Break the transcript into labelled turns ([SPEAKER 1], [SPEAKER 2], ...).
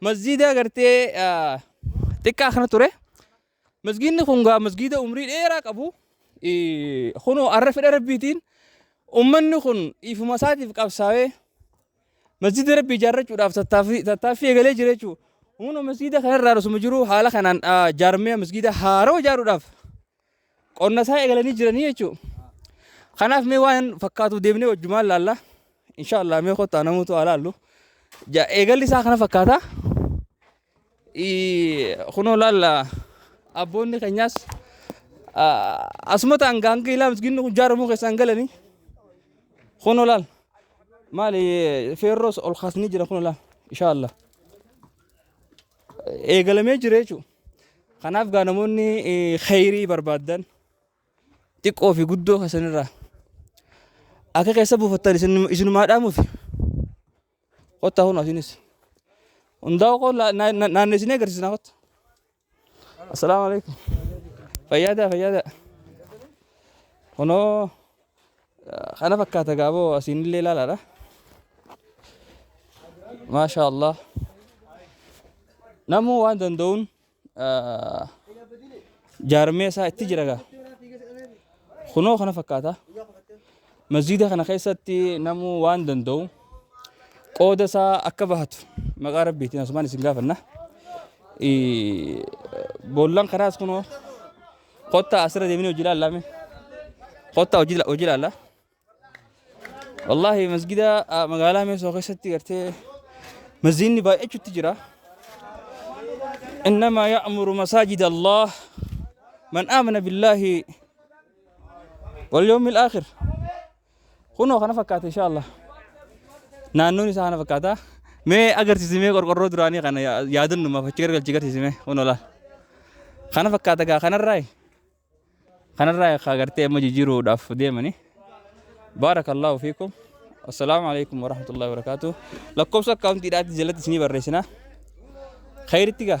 [SPEAKER 1] Masjiida gartee xiqqaa kana ture. Masjiidni kun gaa masjiida umrii dheeraa qabu. Kunoo har'a fedha rabbiitiin ummanni kun dhiifuma isaatiif qabsaa'ee masjiida rabbii ijaarrachuudhaaf tattaaffii eegalee jira jechuudha. Humna masjiida kanarraa osuma jiru haala kanaan jaarmee masjiida haaroo ijaaruudhaaf Qonna isaa eegalanii jiranii jechuudha. Kanaaf mee waan fakkaatu deemnee wajjumaan laalla. Insha Allah mee kottaa namoota waa laallu. Eegalli isaa kana fakkaata. Kunoo laalla abboonni keenyaas asuma ta'an gaangee ilaa misgiinni kun jaaramuu keessaan galanii. Kunoo laalla. Maali feerroos ol kaasanii jira kunoo laalla. Insha Allah. Eegalamee jira jechuudha. Kanaaf gaa namoonni kheyrii barbaaddan xiqqoo fi guddoo keessanirraa akka keessa buufattan isinumaa dhaamuuf kottaa kun asiinis hundaa koo naannesinee agarsiisnaa kotta. Assalaamu alaikum. Fayyaadaa fayyaadaa. Kunoo. Kana fakkaata gaaboo asiinillee ilaalaadha. Maashaa Allah. Namuu waan danda'uun jaarmee isaa itti jira gaa. Kunoo kana fakkaata. Masjiida kana keessatti namuu waan danda'u qooda isaa akka bahatu maqaa rabbiitiin asumaan isin gaafanna. Boollan kanaas kunoo Kottaa asirra deemnee hojii ilaallaa mee. Kottaa hojii hojii ilaallaa. Wallaahi masgida ah, magaalaa Meesoo keessatti gartee masjiidni baay'achuutti jira. Innamaa ya'muru masaajida Allah man aamana billaahi wal yawmil aakhir. Kunoo kana fakkaata insha Allah. Naannoon isaa kana fakkaata. Mee agarsiisi mee qorqorroo duraanii kana yaa- yaadannumaaf achi gargalchi agarsiisi mee kunoo laal. Kana fakkaata gaa kanarraa kanarraa akka agartee amma jijjiiruudhaaf deemanii. Baarakallaahu fiikum. Assalaamu alaikum warahmatullahi wabarakaatu. Lakkoofsa akkaawuntiidhaatti jalatti isinii barreessinaa. Khayritti gaa.